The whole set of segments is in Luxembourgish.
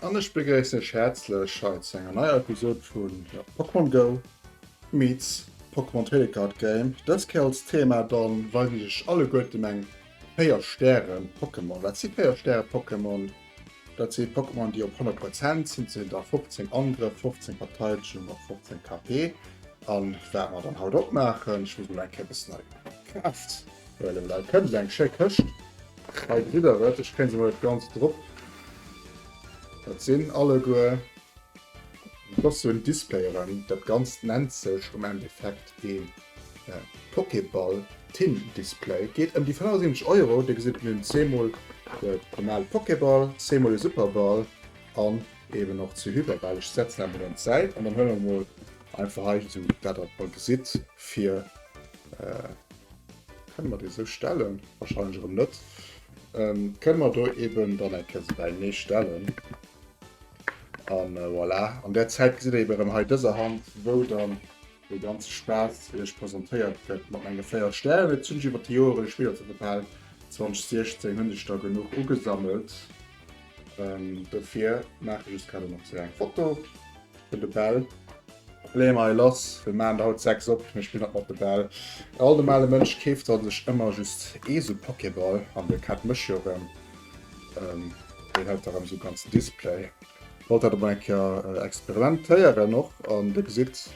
An ech begréissen iech häerzlech hei zu enger neier Episod vun Pokémon Go meets Pokémon Trading Card Game. Dës Kéier als Thema dann, wei wéi ech alleguertem eng 4 Stäre Pokémon. Wat si 4 Stäre Pokémon? Dat si Pokémon déi op 100 Prozent sinn, sinn da 15 Angrëff, 15 Verteidegung a 15 KP. An wat mer dann haut opmaachen, ech muss mol eng Kéier e bëssen hei Kraaft. Voilà dat kënnt eng schéck Këscht. Hei kritt der et. Ech kréien se mol net ganz drop. Dat sinn alleguer, dat ass sou en Display erëm. Dat Ganzt nennt sech am Endeffekt ee Pokéball Tin Display. Geet ëm déi 75 Euro. Dir gesitt, mir hunn zweemol de normale Pokéball, zweemol e Superball an eeben och zwee Hyperbäll. Ech setzen awer mol un d'Säit an dann huele mer mol Einfach hei so dat wat mer gesitt fir kënne mer dee sou stellen? Wahrscheinlech erëm net. Kënne mer do eben dann eng Kéier sou bei nee stellen. An voilà. An där Zäit gesitt der eben erëm hei dëser Hand wou dann dee ganze Spaass iech presentéiert gëtt mat menge 4 Stären. Elo hunn ech iwwer d'Joere lech Biller zur Verfal 2016 hunn ech der genuch ugesammelt. Dofir maache ech just grad elo nach sou eng Foto. Fir de Bell. Léi mei lass, mir maan der haut 6 op, mir spillen nach mat de Bell. E alt normale Mënsch keeft der sech ëmmer just ee sou Pokéball, an de Cat mécht jo rem, deen hält da rem sou ganzen Display. Wollt dat emol eng Kéier Experiment téieren och, an dir gesitt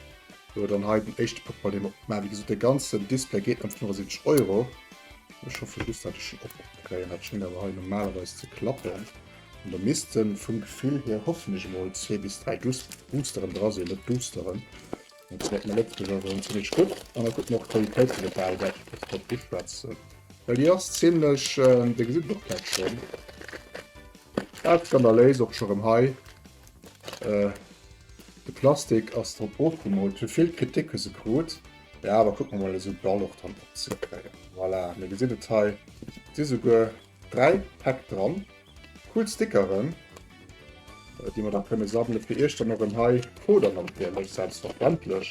jo dann hei den éischte Pokéball deen mer op maan. Wéi gesot dee ganzen Display geet ëm 75 Euro. Ech hoffen just dat ech en opkréien, dat schéngt awer hei normalerweis ze klappen. Da misste vum Gefill hier hoffentlech emol zwee bis dräi Boosteren dra sinn, net Doosteren. Dat gefält mir net esou esou zimmlech gutt. An et gëtt mer och d'Qualitéit vun der Bal wäit iwwert de Popp uschwätzen, well déi ass zimmlech, Dir gesitt et och vläicht schonn, dat skandaléis och scho rëm hei, de Plastik ass drop ofgemoolt. Fir vill Kritik hu se krut, mä awer kucke mer emol esou d'Bal och dran opzekréien. Voilà, mir gesinn et hei, et si souguer. 3 Päck dran. Cool Stickeren, déi mer da kënne sammele fir iech dann erëm hei Coder natierlech selbstverständlech,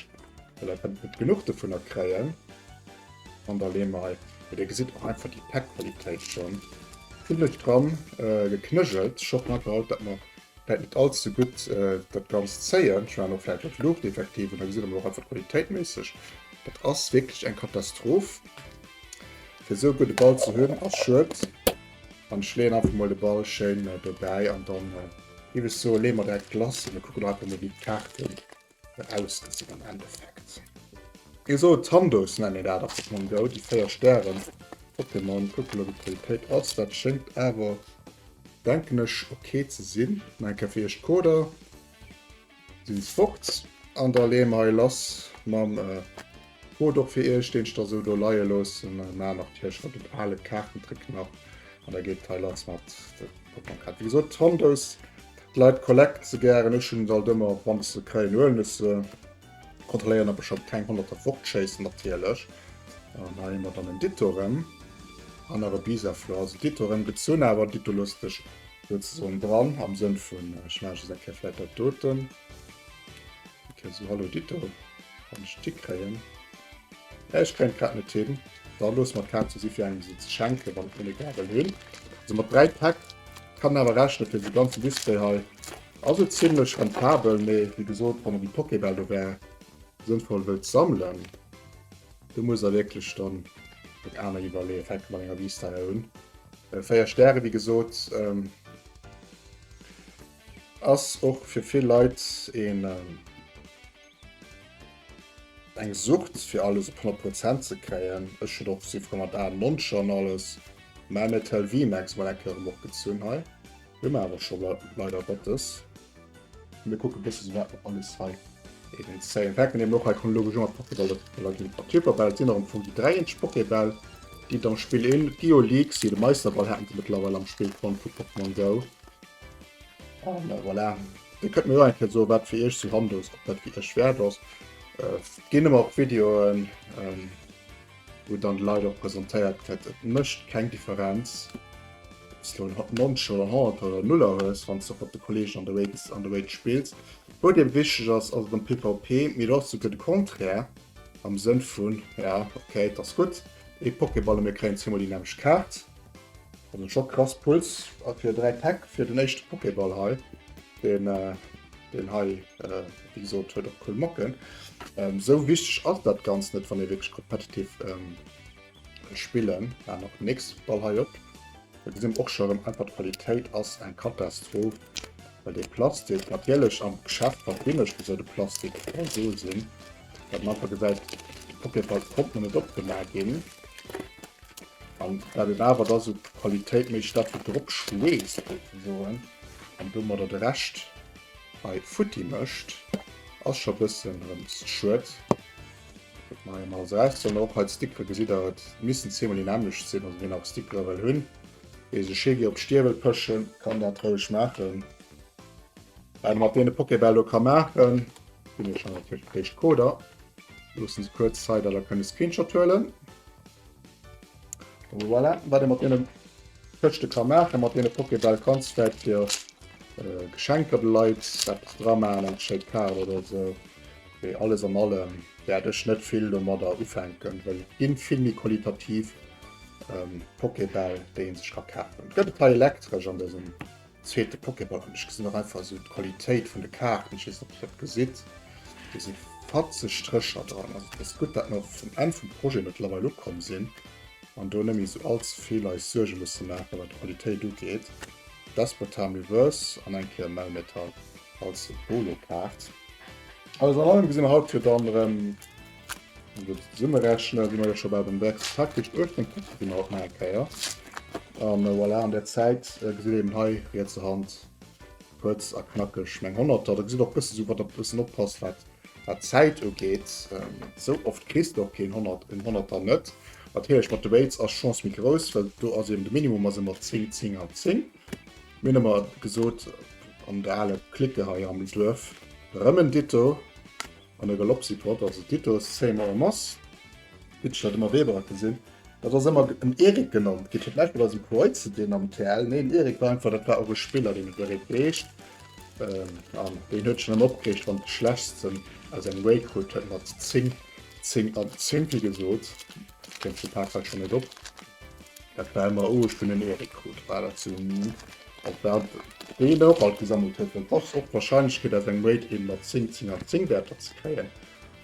well der kënnt net genuch dovunner kréien. An da leeë mer hei, jo dir gesitt och einfach déi Päckqualitéit schonn, zimlech dran geknëjelt. Ech hoffen einfach haut, dat mer vläit net all ze gutt dat Ganzt zéien. Ech waren och vläit op Luucht effektiv, an da gesitt der mol och einfach qualitéitméisseg, dat ass wierklech eng Katastroph. Fir esou e gudde Ball ze hunn ass schued. An ech leeën einfach mol de Ball schéin dobäi an dann géif ech soen, leeë mer direkt lass a mir kucken och einfach mol wéi d'Kaarten ausgesinn am Endeffekt. Ee sou Tandos nennen dat ass dat mam Go, déi 4 Stären op dem Mond. Kucke mol wéi d'Qualitéit ass, dat schéngt awer denken ech ok ze sinn. Nach eng Kéier fir iech d'Coder. Sinn sports an der lee mei lass mam Code och fir iech deen ech da sou do leie loossen maer nach d'Hirsch mat dem aale Kaartentrick nach an da geet d'Heil Latz mat de Pokémon Kaart wéi gesot Hondos d'Leit collecten se gären ech hunn se alt ëmmer wann ech se kréien huelen ech se kontrolléieren ob ech scho keng honnerter fortschéissen natierlech an hei hu mer dann en Ditto rëm an nach e Bisaflor also Ditto rëm gezunn awer Ditto loosst sech Souzesoen dran am Sënn vun ech maachen just eng Kéier vläit dat doten. Ok, sou hallo dito, wann ech d'Iddi kréien. Mä ech kréien d'grad net hin. Da loosse mer d'Kaart zou, si fir engem esou ze schenken, wann ech mol ee Gabel hunn. Sou mat 3 Päck kann awer rechnen, fir esou ganzen Display hei ass et zimlech rentabel. Mee wéi gesot, wann der déi Pokébäll do wär sënnvoll wëllt sammelen, do musst der wierklech dann dat aner iwwerleeën. Fänke mat enger Vista un. Äh, 4 Stäre wéi gesot. Ähm, ass och fir vill Leit een, ähm, eng Sucht fir alles op 100 Prozent ze kréien. Ech hun och si fro mat A Moncher an alles. Mä Metal VMAX mal eng Kéier erëm opgezunn hei. Hu mer awer scho leider Gottes. Mir kucke bësse sou wat mer alles hei iwwregens zéien. Fänke mir emol och hei chronologesch un mat Pokéball oder ginn et mat Hyperbäll. Et sinn nach am Fong déi dräi eenzesch Pokébäll, déi et am Spill ginn. D'Geolix, jo de Meisterball haten se mëttlerweil am Spill fonnt vu Pokémon Go. A voilà, Dir kënnt mir jo eng Kéier soen, wat fir Iech sou handos, ob dat fir Iech wäert ass. Et ginn ëmmer och Videoen. wou dann d'Leit och presentéiert kritt. Et mécht keng Differenz, ob s elo en Noncher, en Haunter oder en Nuller hues, wann s de och mat de Kolleegen an de Raids, an de Raids spills. Wat eben wichteg ass, ass et am PvP, mee et ass och souguer de Contraire, am Sënn vun, ja ok, et ass gutt, ee Pokéball a mir kréien zweemol déi nämmlecht Kaart. Also scho krass Puls a fir 3 Päck fir den éischte Pokéball hei, deen hei. wéi gesot huet och cool Mocken. Ähm, sou wichteg ass dat ganz net, wann ee wierklech competitiv ähm, spillen. War noch nix Ball hei op. Da gesinn och schon einfach d'Qualitéit ass eng Katastroph. Well de Plastik natierlech am Geschäft wat binneg wéi soll de Plastik so sinn. Dat man einfach gesäit Papierfall kommt man net opgemaach ginn. An dat et awer da so Qualitéit méi statt wie drop schleest soen an dummer dat recht. Hei futti mëscht ass scho bëssen dremst schued. Guckt mer hei emol als Rest an och hei d'Stickere gesitt der, et missten zweemol déi nämmlecht sinn. Also wien nach Stickere wëll hunn, wéi se schéi gi op d'Stier wëll pëschen, kann dat roueg maachen. Wat e mat deene Pokébäll do ka maachen, ginn ech hei natierlech d'Éischt Coder, loosse se kuerz hei, datt der kënnt e Screenshot huelen. Voilà, wat ee mat deene Këschte ka maachen, mat deene Pokébäll, kanns vläit fir Geschenker de Leit eppes dra maachen, eng schéi Kaart oder esou. Mee alles an allem wäert ech net vill domadder ufänken, well et gi vill méi qualitativ Pokébäll, déi ee sech ka kafen. Et gëtt e Pai elektresch an dësem Zweete Pokéball an ech gesinn och einfach esou d'Qualitéit vun de Kaarten, ech weess net ob Dir dat gesitt, do si fatzeg Strécher dran. Also et ass gutt dat mer vum Enn vum Projet mëttlerweil ukomm sinn an do net méi esou allze vill eis Suerge musse maache wat d'Qualitéit ugeet. Despotam Reverse an eng Kéier Melmetal als Holokaart. Alles an allem gesi mer haut jo dann erëm Zesummerechnen si mer jo scho bei dem Wert. Faktesch 18 Punkte si mer och nach eng Kéier. A voilà, an där Zäit gesitt een hei riets a Hand kuerz a knackeg meng Honnerter. Da gesitt och bësse sou, wann der bëssen oppasst, wat d'Zäit ugeet. Sou oft kriss de och keen Honnert, en Honnerter net. Natierlech mat de Weights ass d'Chance méi grouss, well do ass eeben de Minimum ass ëmmer 10, 10 an 10. Mir hunn ëmmer gesot, an der aler Clique hei am Duerf, rëm en Ditto, An der Galoppsituat, also Titus, Seymour a Moss, gëtt statt ëmmer Weber gesinn. Dat ass ëmmer en Eric genannt ginn. Fir d'lescht Mol ass e Preutzen deen am TL, nee, en Eric war einfach, dat war och e Spiller, deen et Eric heescht. An deen huet sech net opgereegt, wann de Schlechtsten aus engem Wei krut huet mat 10, 10 an 10 Pi gesot. Kéim zum Parkhaus schonn net op. Dat war ëmmer owes vun den Eric krut war dat sou Meme op dat deen och alt gesammelt huet well ass och d'Warscheinlechkeet aus engem Raid een mat 10 10 an 10 Werter ze kréien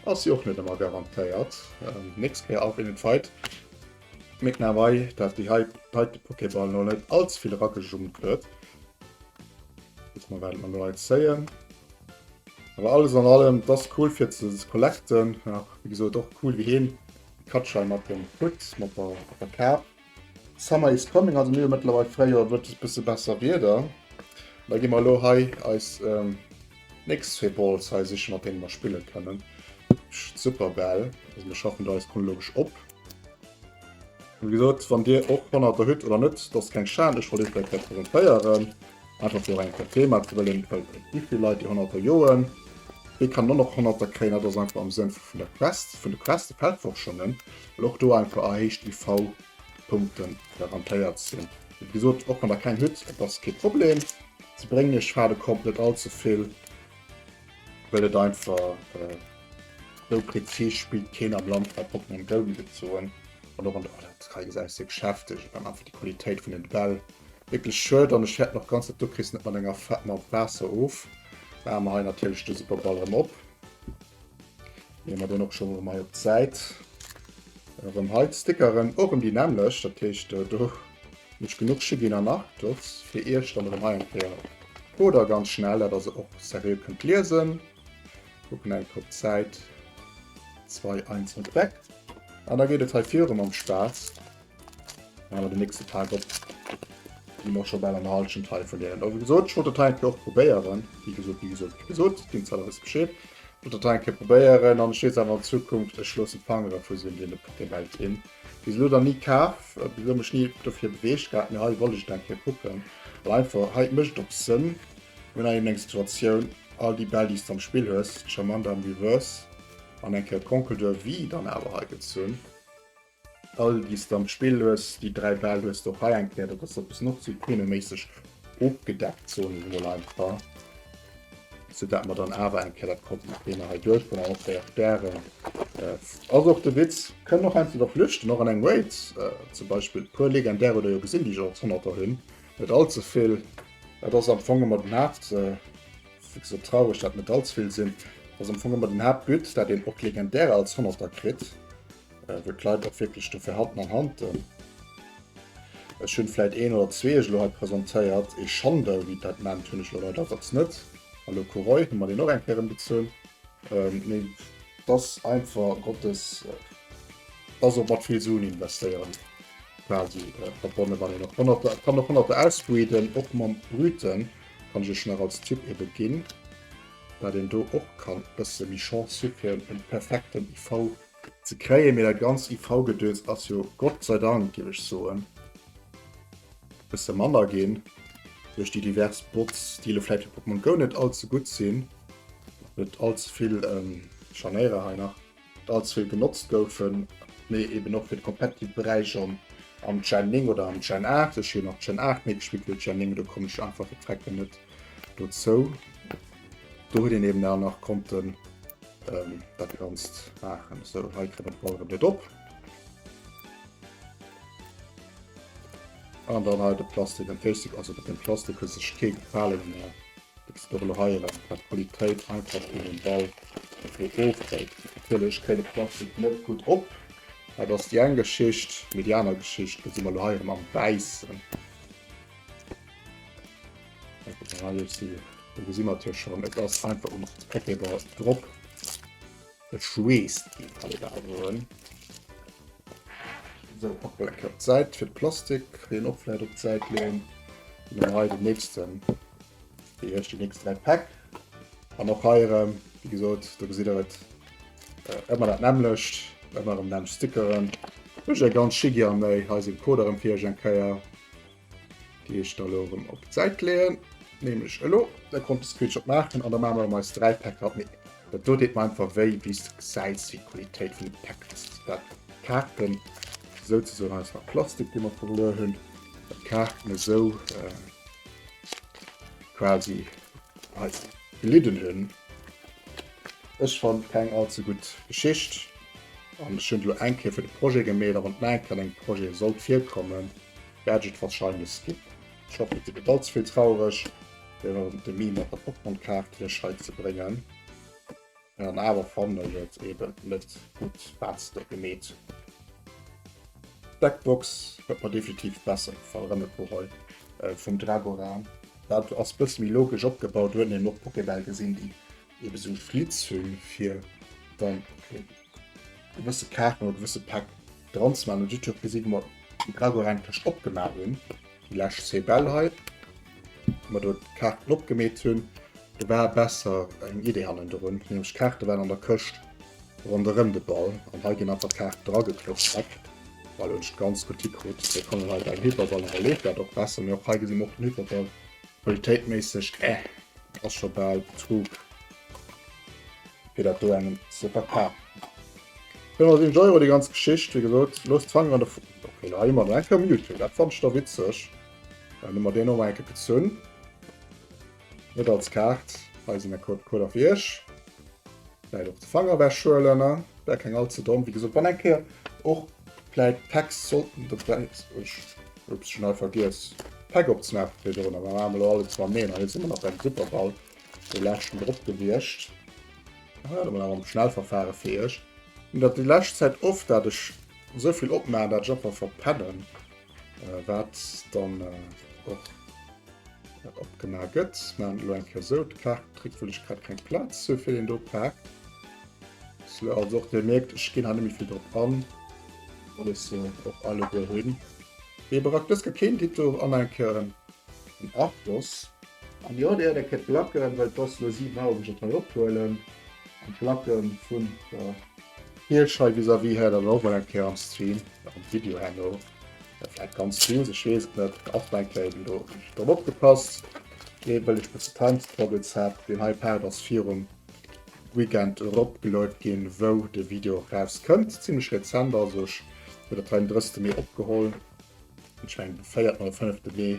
ass jo och net ëmmer garantéiert nächst Kéier auf einen Fight Mick na wei dat déi hei hei de Pokéball no net allzevill eragejummt huet Kucke mer wat mer do hei zéien Awer alles an allem et ass cool fir ze collecten nach wéi gesot och cool wéi heen Katschai mat dem Fritz mat der mat der Kaap. Summer is coming, also mir hu mëttlerweil Fréijoer, et gëtt e bësse besser Wieder. Da gi mer elo hei eis nächst zwee Balls hei sichen, mat deene mer spille kënnen. Super Bäll, also mir schaffen do eis chronologesch op. Wéi gesot, wann dir och Honnerter hutt oder net, dat ass keng Schan, ech wollt ee vläicht hei presentéieren. Einfach fir och eng Kéier Thema ze wëllen, well et gi vill Leit déi Honnerter joen. Wéi kann dann och Honnerter kréien? Dat ass einfach am Sënn vun der Quest, vun de Quest, de Feldforschungen, well och do einfach erhéicht IV-Punkte garantéiert sinn. Wéi gesot, och mat der Keng Hütt, dat ass kee Problem ze bréngen. Ech fade kommt net all ze vill. Well et einfach esou präzis spillt keen am Land wat Portmonni wëll mat et soen. An och an der Alertsrei gesäis de Geschäfte dann einfach déi Qualitéit vun den Bäll. Wierklech schued an ech fäerten och ganz dat du kriss net mat enger Fett Mapp Waasser of. Maache mer hei natierlech de super Ball erëm op. Leeë mer deen och scho erëm hei op d'Säit. Erëm hei d'Stickeren, och erëm déi nämmlecht, dat heescht do Mech genuch Shigin an Arctos fir iech dann erem hei eng Kéier oder ganz schnell dat der se och serieux kënnt liesen. Kucken eng Kéier op d'Säit 2 einzeln weg an da geet et hei virun mam Spaass. Mä mer den nächste Tag op gi mer scho bal an der Halschent hei vun deenen a wéi gesot ech wollt dat hei eng Kéier och probéieren wéi gesot wéi gesot wéi gesot deem Zell a wësse Bescheed wollt dat hei eng Kéier probéieren an ech weess awer an Zukunft ech loosse d'Fangere vu sinn dee Belt hin. Bis elo dann ni kaaf, bis elo mech ni dofir beweegt gehat, mee hei wollt ech et eng Kéier kucken, well einfach hei mécht och Sënn, hunn eng eng Situatioun, all déi Bäll déi s de am Spill hues, charmant am Reverse an eng Kéier d'Konkelt oder wéi dann awer hei gezunn, all déi s de am Spill hues, déi dräi Bäll hues de och hei eng Kéier, dat ass e bëssen och zu Keno-méisseg ofgedeckt, soen ech emol einfach. Sou dat mer dann awer eng Kéier dat konnten nach deene hei duerch vun alle véier Stären. Ass och de Witz. Kënnen och einfach der flüchten, och an engem Raid. Zum Beispill puer legendär huet der jo gesinn, déi ech als Honnerter hunn. Net all ze vill. Dat ass am Fong ëmmer den Haapt. Sou traureg dat net all ze vill sinn, dat ass am Fong ëmmer den Haaptbut, dat een och d'legendärer als Honnerter kritt. äh, wou d'Leit och wierklech dofir hatten an hanten. Ech hunn vläit een oder zwee ech lo hei presentéiert. E Schandel, wéi dat nennt, hunn ech lo leider Gottes net. An de Coureuil hu mer deen och eng Kéier embezunn. Ähm, mee dass einfach Gottes, äh, dass och mat vill Suen investéieren quasi äh, verbonnen, wann een och Honnerter, kann och Honnerter ausbreeden, och mam Brüten, kann ech ech nach als Tipp ebe ginn, dat een do och kann bësse méi Chance hu fir en perfekten IV ze kréien, mee dat ganzt IV-Gedöns ass jo Gott sei Dank, géif ech soen, e bësse manner ginn duerch déi divers Bots, déi elo vläicht fir Pokémon Go net all ze gutt sinn, net all ze vill Scharnéiere hei nach, net all ze vill genotzt goufen, mee eben och fir de competitive Beräich am Gen 9 oder am Gen 8. Ech hunn och Gen 8 méi gespillt wéi Gen 9, do komm ech einfach fir d'Recken net dozou. Do huet een eben dann nach konnten. Ähm, dat ganzt machen so he kre den Ball net op. An dann halt de Plastik den Plastik also den Plastik hue sech ke fallen mehr. Äh, heieren wat Qualitéit einfach in den Ball Fëlech kréine Plastik net gut op. Et ass die eng Geschicht medianer Geschicht si mal heieren am Wäissen. Do gesi mat hir schon et ass einfach um Packeber drop geschweest op Säit fir Plastik den opläit op Säit leen den nächsten déi ech die nächst drei Pack an noch heieren wie gesot do gesi der et ëmmer dat nämmlecht ëmmer um Namm stickeren. Ech ganz schi gär méi heise Koder em fir eng Keier Déi ech da lo erëm op d'Säit leeën, nämlech elo. Da konnt de Screenshot maachen an da maache mer erëm eis 3 Päcker op. Mee dat do deet mer einfach wéi, wéi s de gesäis, wéi d'Qualitéit vun de Päck ass. Zu dat d'Kaarten souzesoen eis nach Plastik, dee mer verluer hunn, well d'Kaarten esou quasi eis gelidden hunn. Ech fannen keng all ze gutt Geschicht an ech hunn elo eng Kéier fir de Projet gemeet a wann nach eng Kéier an engem Projet sollt virkommen, Gadget wahrscheinlech skip. Ech hoffen dir gëtt all zevill traureg wärend dem Meme mat der Pokémon-Kaartlech hei ze bréngen. An awer fannen ech et eben net gutt waats de gemeet hues. D'Deckbox huet mer definitiv besser gefall, erëm e puer hei vum Dragora. Dat ass bësse méi logesch opgebaut, huet een och Pokébäll gesinn déi eben esou Flitz hunn fir dann. gewësse Kaachen oder gewësse Päck dran ze maachen. Dofir gesi mer déi Gragotte elo eng Tëscht opgemaach hunn, déi lescht Cybelle hei, wou mer do d'Kaarten opgemeet hunn. Do war besser eng Idee hannendrun, nämlech d'Kaarte waren an der Këscht ronderëm de Ball an hei ginn einfach d'Kaarte dragekloppt, zack. Voilà, hunn ech et ganz gutt hikritt. Elo kann een hei beim Hyperball, elo leeft dat och besser. Mee och hei gesi mer och den Hyperball qualitéitméisseg, eh, ass scho bal trug. Fir dat do engem ze verkafen. 407 Euro déi ganz Geschicht, wéi gesot. Loosst d'Fanger an der Fu. Okay, lo ha mir eng Kéier Mewtwo. Dat fand ech da witzeg. Dann hu mer deen och mol eng Kéier gezunn. Net als Kaart. Hei sinn der Code Coder fir iech. Vläit och de Fanger wegschuelen. Wär keng all ze domm. Wéi gesot, wann eng Kéier och vläit Packs sollten dobäi. Ups, ech hunn hei vergiess d'Pack opzemaachen fir dorënner. Mä mer maache mer elo alleguer mam Neen. An hei sinn mer nach beim Superball. Dee leschten drop gewiescht. Warte mol awer am Schnellverfahren fir iech. Hun dat déi lescht Zäit oft dat ech esou vill opmaachen dat ech einfach verpennen wat dann och opgemaach gëtt. Maan et elo eng Kéier esou, d'Kaart kritt wou lech grad keng Platz sou fir deen do Pak. Sou also och dir mierkt ech ginn hei net méi vill drop an. Well ech se och alleguer hunn. Dee Barack dës gëtt keen Ditto an eng Kéier en Arctos. An jo, déi aner Képp lacken, well d'Boss lo 7 Auer mech op mei ophuelen an d'Lacken vun der Hirsch hei vis-à-vis hat dann och mol eng Kéier am Stream, am Video herno vläit ganz fies, ech weess et net, och mei Kéier eben do drop opgepasst, dee wëll ech bësse Timestroggles hat. Deen hei Part ass virum Weekend erop geload ginn, wou de Video och raus kënnt, zimlech rezent also, ech hu dat hei den 30 Mee opgeholl, ech mengen de 4. oder 5. Mee.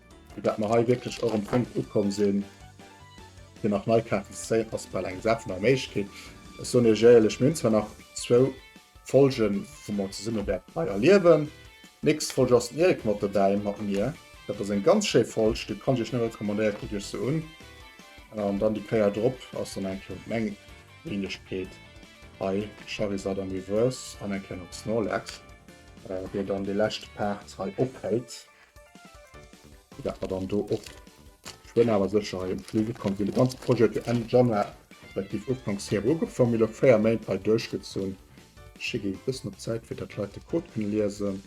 Vu dat mer hei wierklech och um Punkt ukomm sinn, fir nach nei Kaarten ze zéien, ass bal eng Gesat vun der Méiglechkeet. Ech soen Iech éierlech, mir hunn zwar nach zwou Folgen, wou mer zesumme wäerten hei erliewen. D'nächst Folg ass den Eric mat dobäi, mat mir. Dat ass eng ganz schéi Folg, déi kann ech Iech nëmme recommandéieren. Kuckt Iech se un. An dann déi Kéier drop ass dann eng Kéier meng Wenegkeet hei, Charizard am Reverse an eng Kéier nach Snorlax, déi dann déi lescht Paart hei ophält. Dat mer dann do och schwéin awer sécher hei un d'Fliege komm sinn. De ganze Projet ass jo Enn Januar, respektiv Ufanks Februar ugefaangen. Mir hu elo 4 Méint hei duerchgezunn. Ech gi e bëssen op d'Säit, fir datt d'Leit de Code kënne liesen,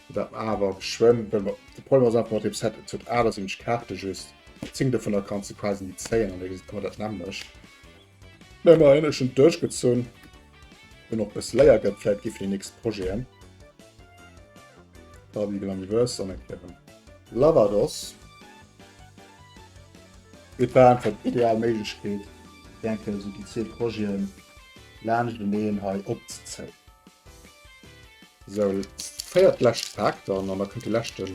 fir datt mer awer geschwënn, well mer, de Problem ass einfach mat deem Set, et huet 78 Kaarte just, 10 dovunner kanns de quasi ni zéien an da kann een dat nämmlecht. Mä immerhin, ech hunn et duerchgezunn. Hunn och e bësse Léier gëtt, vläit gi fir déi nächst Projeten Barbie Glammiverse an eng Kéier en Lavados. Et war einfach d'ideal Méiglechkeet, fir eng Kéier esou déi zwee Projeten laanschteneen hei opzezéien. Esou, féiert lescht Pak dann an da kënnt de leschte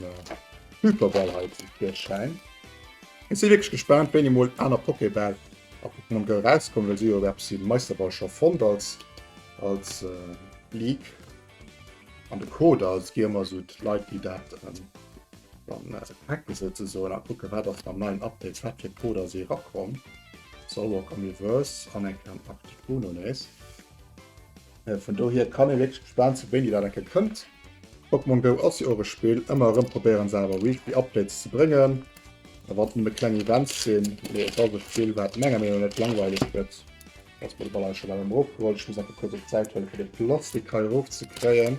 Hyperball hei zum Virschäin. Ech si wierklech gespaant, wéini mol aner Pokébäll A Pokémon Go erauskomm, well si jo eppes si Meisterball scho fonnt als als League. An de Code als gi ëmmer esou d'Leit déi dat dann hacken souzesoen a kucke wat ass mam neien Update wat fir Coder si erakomm. Zoroark Omniverse an eng Kéier den Articuno nees. Vun dohier kann ee wierklech gespaant sinn, wéini dat eng Kéier kënnt. Pokémon Go ass jo och e Spill, ëmmer erëm probéieren se awer weekly Updates ze bréngen, a wann et nëmme kleng Events sinn. Mee et ass e Spill, wat menger Meenung no net langweileg gëtt. Ech muss nach e puer kuerz op d'Säit huelen, fir de Plastik hei erof ze kréien.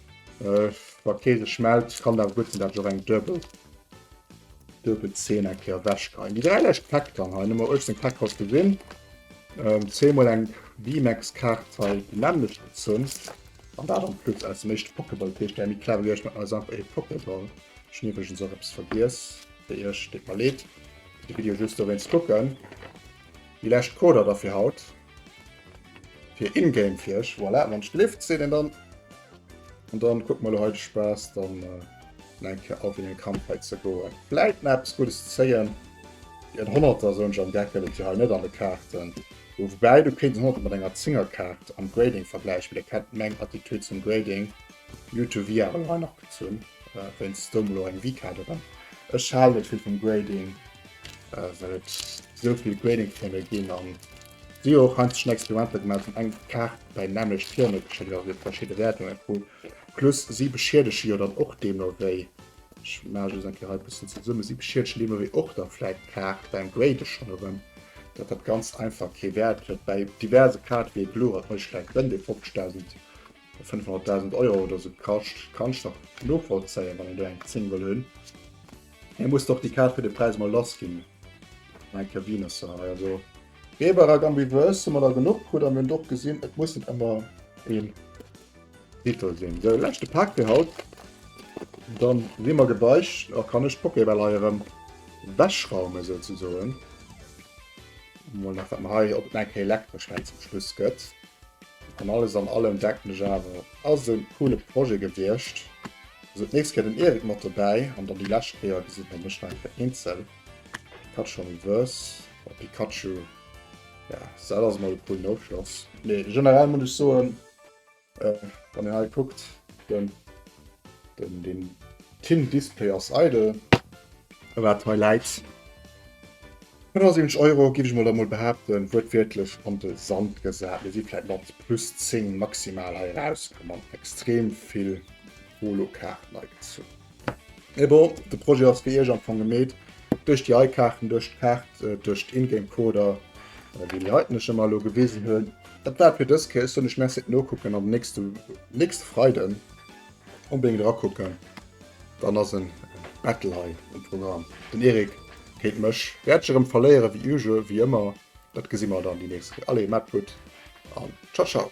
Äh, wa kee sech mellt, kann et awer gutt sinn, datt ech och eng duebel, duebel Zeen eng Kéier ewechgeheien. Déi dräi lescht Päck dann hei, Nummer 18 Päck haut gesinn. Ähm, zweemol eng VMAX-Kaart hei, déi nämmlecht gezunn. An dat am Plus aus dem éischte Pokéball. Dat heescht, déi méi clever wéi ech, maachen eis einfach ee Pokéball. Ech hunn iwwregens och eppes vergiess, fir iech, deet mer leed, de Video just dowéinst kucken. Déi lescht Coder da fir haut. Fir ingame fir ech voilà, wann lift se den dann an dann guck mal heute spaß dann äh, enke auf in den kampf he ze go bleibt maps gutes zeien die 100 so am deckel und hier net an de karten wobei du kind hat man enger zingerkarte am grading vergleich wieder kennt meng attitude zum grading youtube via noch gezun äh, wenn stumlo eng wie kader dann es schade viel vom grading Äh, well et souvill Grading Firme ginn an si och han schon Experimenter gemacht an eng Kaart bei nämlecht Firme geschéckt a fir verschiedene Wäertungen vu plus si beschiedege jo dann och deemno wéi ech ma just eng Kei bëssen ze summe si beschiedegen deemno wéi och dann vläit d'Kaart beim Grade schon erëm dat dat ganz einfach kee Wäert huet bei diverse Kaart wéi Blue hat mech vläit gënn dee 50.000 500.000 Euro oder so kascht, kann ich nach novollzéien, wann een do eng 10 wëll hunn. Hie muss doch déi Kaart fir de Präis mal lass ginn. Mein Kevin se hei also. Reber ak Ambiveuse hu mer der genuch krut an mir hunn doch gesinn, et muss net ëmmer een Titel sinn. Sou, leschte Pak fir haut. Dann si mer gebeicht a kann ech d'Pokébäll hei erëm wechraumen, souzesoen. Mol nach, wat mer hei op et nach eng Kéier elektresch hei zum Schluss gëtt. An alles an allem denken ech awer et ass e coole Projet gewiescht. Also d'nächst Kéier den Eric mat dobäi an dann déi lescht Kéier gesin der mech nach eng Kéier eenzel. Pikachu am Reverse, oh Pikachu ja dat ass mol e coolen Ofschloss. Mee generell muss ech soen wann een hei kuckt den den Tin Display ass eidel. Wat hei läit. 75 Euro giff ech mol da mol behaapten, wuertwiertlech an de Sand gesat. Mir si vläit mat plus 10 maximal hei erauskomm an extrem vill Holo-Kaarten hei gezunn. Mee bon, de Projet ass fir iech am Fong gemeet, duerch déi hei Kaarten, duerch d'Kaart, duerch d'Ingame-Coder, déi déi heiten ech ëmmer elo gewisen hunn. Dat war et fir dës Kéier. Ech soen iech Merci fir d'Nokucken an den nächste Freiden. Onbedéngt era kucken, dann ass en Battle hei um Programm. Den Eric géint mech. Wäert ech erëm verléieren wéi usual, wéi ëmmer, dat gesi mer dann déi nächst Kéier. Allez, maacht gutt an ciao ciao.